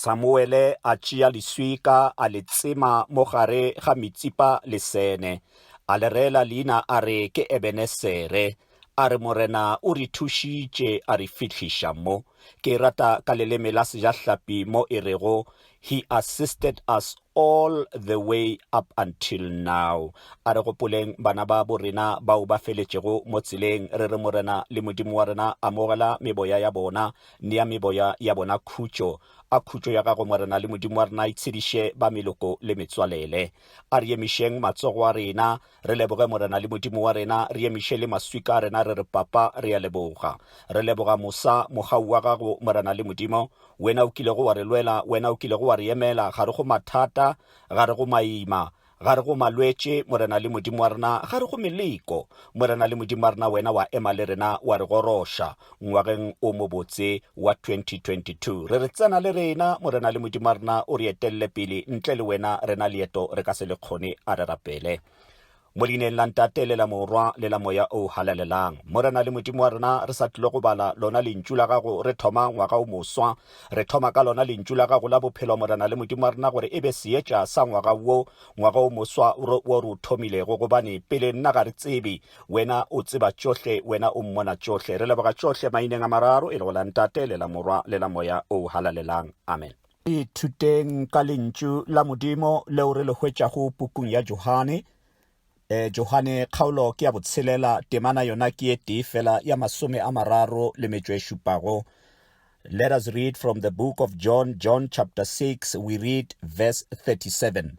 Samuele a tšea leswika a le tsema mo gare ga Mitsipa le Sene, a le reela leina a re ke Ebenesere, a re Morena o re thušitše a re fihliša mo. Ke e rata ka leleme la Sejahlapi mo e rego, He assisted us all the way up until now. A re gopoleng bana ba bo rena bao ba feletšego mo tseleng. Re re Morena le Modimo wa rena, amogela meboya ya bona. Nea meboya ya bona khutšo. A khutšo ya gago Morena le Modimo wa rena e tshediše ba meloko le metswalele. A re emišeng matsogo a rena. Re leboge Morena le Modimo wa rena, re emiše le maswika a rena re re, Papa, re a leboga. Re leboga mosa, mogau wa gago, Morena le Modimo. Wena o kilego wa re lwela, Wena o kilego wa re emela gare go mathata, gare go maima, gare go malwetše, Morena le Modimo wa rena, gare go meleko. Morena le Modimo wa rena, Wena wa ema le rena, wa re goroša. Ngwageng o mobotse wa 2022, re re tsena le rena, Morena le Modimo wa rena, o re etelele pele. Ntle le wena rena leeto re ka se le kgone. A re rapele. Mo leineng la Ntate le la Morwa le la Moya o Halalelang. Morena le Modimo wa rena, re sa tlile go bala lona Lentšu la gago, re thoma ngwaga o moswa. Re thoma ka lona Lentšu la gago la bophelo, Morena le Modimo wa rena, gore e be seetša sa ngwaga wo, ngwaga o moswa wo re o thomilego, gobane pele nna ga re tsebe Wena o tseba tšohle, Wena o mmona tšohle. Re leboga tšohle maineng a mararo, e lego la Ntate, le la Morwa, le la Moya o Halalelang. Amen. Ithuteng ka Lentšu la Modimo leo re le hwetšago pukung ya Johane. E, Johane kgaolo ke ya botshelela, temana yona ke ye tee fela ya masome a mararo le metšo e šupago. Let us read from the book of John, John chapter 6, we read verse 37.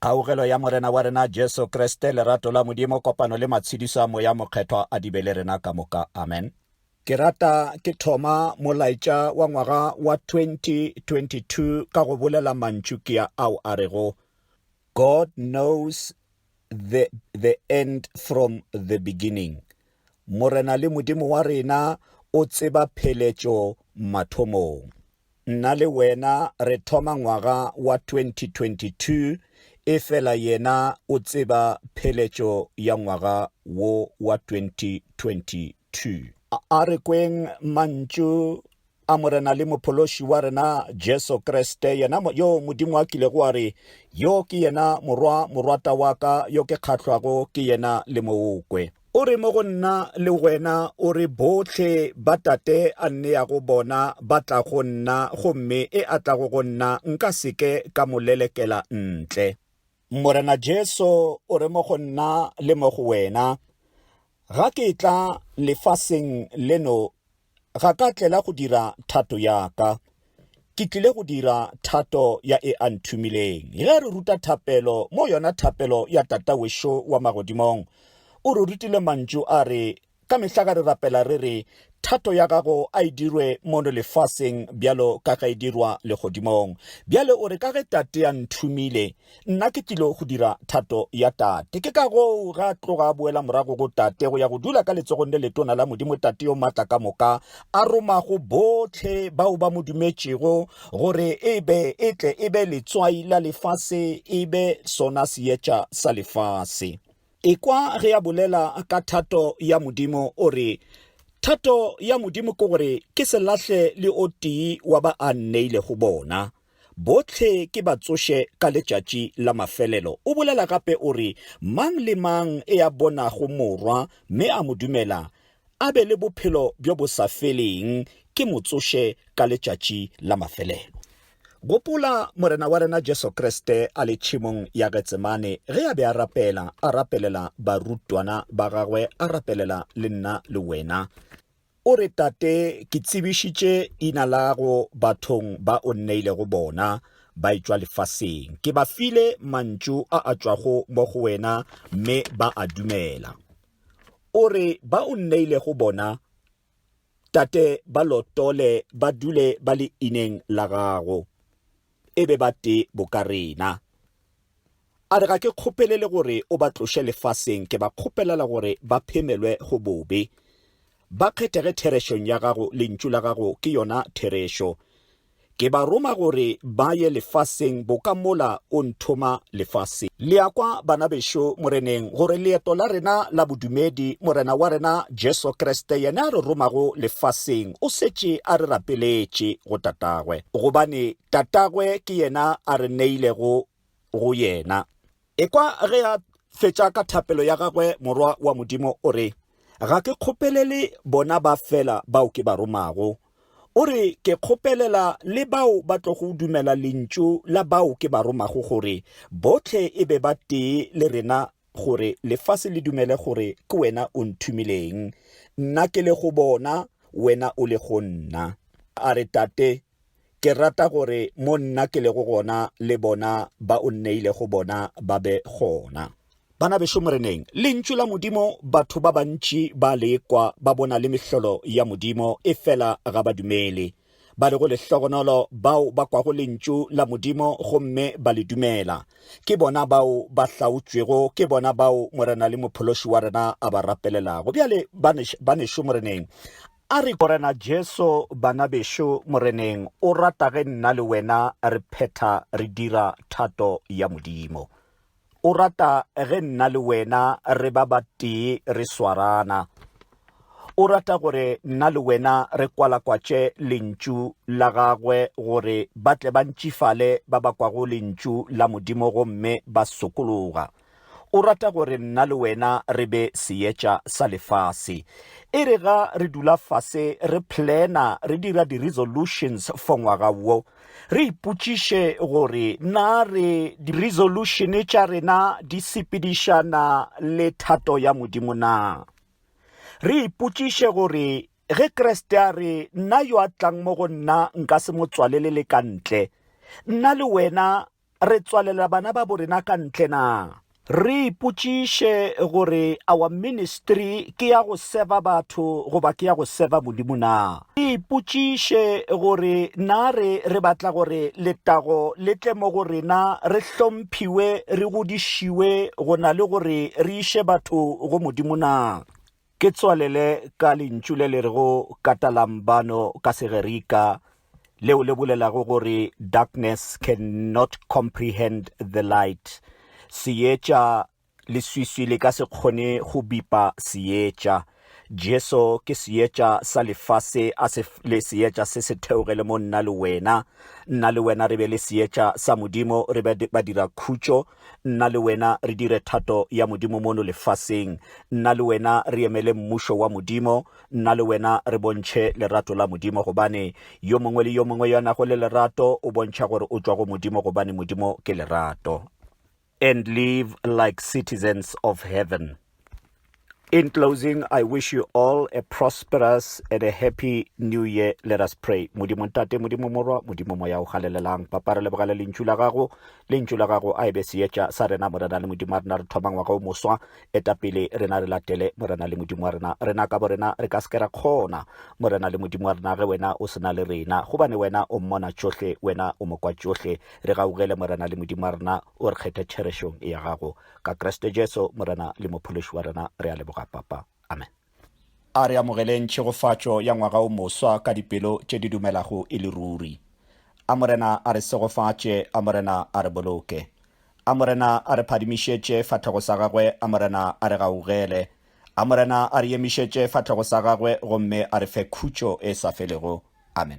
Kgaugelo ya Morena wa rena Jesu Kriste, lerato la Modimo, kopano le matshediso a Moya Mokgethwa a di be le rena ka moka. Amen. Ke rata ke thoma molaetša wa ngwaga wa 2022 ka go bolela mantšu ke ya ao a rego God knows the, the end from the beginning. Morena le Modimo wa rena o tseba pheletšo mathomong. Nna le wena re thoma ngwaga wa 2022 efela yena o tseba pheletšo ya ngwaga wo wa 2022. A re kweng mantšu a Morena le Mophološi wa rena Jesu Kriste, yena yo Modimo a kilego a re, Yo ke yena Morwa morwata wa ka, yo ke kgahlwago ke yena, le mo o kwe. O re, Mo go Nna le wena, o re, bohle ba Tate a nneyago bona ba tla go Nna, gomme e a tlago go Nna nka se ke ka mo lelekela ntle. Morena Jesu o re, Mo go Nna le mo go wena. Ga ke etla lefaseng leno ga ka tlela go dira thato ya ka, ke tlile go dira thato ya e a nthumileng. Ge re ruta thapelo mo yona thapelo ya Tata wešo wa magodimong, o re rutile mantšu a re, Ka mehla ga re rapela re re, Thato ya gago a e dirwe mono lefaseng bjalo ka ge e dirwa legodimong. Bjale o re, Ka ge Tate a nthumile, Nna ke tlilo go dira thato ya Tate. Ke ka goo ga tloga a boela morago go Tate go ya go dula ka letsogong le letona la Modimo Tate yo Maatla ka Moka, a romago bohle bao ba mo dumetšego gore e be e tle e be letswai la lefase e be sona seetša sa lefase. Ekwa ge a bolela ka thato ya Modimo, o re, Thato ya Modimo ke gore ke se lahle le o tee wa ba a nneilego bona. Bohle ke ba tsoše ka letšatši la mafelelo. O bolela gape o re, Mang le mang e a bonago Morwa mme a mo dumela, a be le bophelo bjo bo sa feleng, ke mo tsoše ka letšatši la mafelelo. Gopola Morena wa rena Jesu Kriste a le tšhemong ya Getsemane ge a be a rapela, a rapelela barutwana ba gagwe, a rapelela le nna le wena. O re, Tate, ke tsebišitše leina lago bathong ba o nneilego bona, ba etšwa lefaseng. Ke ba file mantšu a a tšwago mo go wena, mme ba a dumela. O re, Ba o nneilego bona, Tate, ba lotole ba dule ba leineng la gago, e be ba tee boka rena. A re, Ga ke kgopelele gore o ba tloše lefaseng, ke ba kgopelela gore ba phemelwe go bobe. Ba kgethege therešong ya gago, lentšu la gago ke yona therešo. Ke ba roma gore ba ye lefaseng boka mola o nthoma lefaseng. Le a kwa, bana bešo Moreneng, gore leeto la rena la bodumedi, Morena wa rena Jesu Kriste, yena a re romago lefaseng, o setše a re rapeletše go Tatagwe, gobane Tatagwe ke yena a re neilego go yena. Ekwa ge a fetša ka thapelo ya gagwe, Morwa wa Modimo o re, Ga ke kgopelele bona ba fela bao ke ba romago. O re, Ke kgopelela le bao ba tlogo dumela lentšu la bao ke ba romago gore bohle e be ba tee le rena gore lefase le dumele gore ke wena o nthumileng, nna ke le go bona, wena o le go nna. A re, Tate, Ke rata gore mo nna ke lego gona le bona ba o nneilego bona ba be gona. Bana bešo Moreneng, Lentšu la Modimo batho ba bantši ba le ekwa ba bona le mehlolo ya Modimo, efela ga ba dumele. Ba lego lehlogonolo bao ba kwago Lentšu la Modimo gomme ba le dumela, ke bona bao ba hlaotšwego, ke bona bao Morena le Mophološi wa rena a ba rapelelago. Bjale, banešu Moreneng, A re, Morena Jesu, bana bešo Moreneng o rata ge nna le wena re phetha re dira thato ya Modimo. O rata ge nna le wena re ba batee re swarana. O rata gore nna le wena re kwalakwatše Lentšu la Gagwe gore ba tle ba ntšifale ba ba kwago Lentšu la Modimo gomme ba sokologa. O rata gore nna le wena re be seetša sa lefase. E re ga re dula fase re plana, re dira di-resolutions for ngwaga wo, re ipotšiše gore na re di-resolution tša rena di sepedišana le thato ya Modimo na. Re ipotšiše gore ge Kriste a re, Nna yo a tlang mo go nna nka se mo tswalelele ka ntle, nna le wena re tswalela bana babo rena ka ntle na? Re ipotšiše gore awa ministry ke ya go seva batho goba ke ya go seva Modimo na? Re ipotšiše gore na re re batla gore letago le tle mo go rena, re hlomphiwe, re godišiwe go na le gore re iše batho go Modimo na? Ke tswalele ka lentšu le le rego katalambano ka Segerika leo le bolelago gore darkness can not comprehend the light, seetša, leswiswi le ka se kgone go bipa seetša. Jesu ke seetša sa lefase a se le seetša se se theogele mo nna le wena. Nna le wena re be le seetša sa Modimo, re be badirakhutšo, Nna le wena re dire thato ya Modimo mono lefaseng. Nna le wena re emele Mmušo wa Modimo. Nna le wena re bontšhe lerato la Modimo, gobane yo mongwe le yo mongwe yo a nago le lerato o bontšha gore o tšwa go Modimo, gobane Modimo ke lerato. And live like citizens of heaven. In closing, I wish you all a prosperous and a happy new year. Let us pray. Modimo ntate, modimo morwa, modimo moya o galelelang. Papa re lebogale lentšu la gago, lentšu la gago a ebe seetša sa rena morena le modimo wa rena re thoma ngwaga o moswa. Eta pele rena re latele morena le modimo wa rena. Rena ka borena re ka se ke ra kgona. Morena le modimo wa rena ge wena o sena le rena. Gobane wena o mmona tšohle, wena o mokwa tšohle. Re gaugele morena le modimo wa rena o re kgethe tšherešong ya gago. Ka Kriste Jesu Morena le Mophološi wa rena re a leboga, Papa. Amen. A re amogeleng tšhegofatšo ya ngwaga o moswa ka dipelo tše di dumelago e le ruri. A Morena a re segofatše, a Morena a re boloke. A Morena a re phadimišetše fatlhogo sa Gagwe, a Morena a re gaugele. A Morena a re emišetše fatlhogo sa Gagwe gomme a re fe khutšo e sa felego. Amen.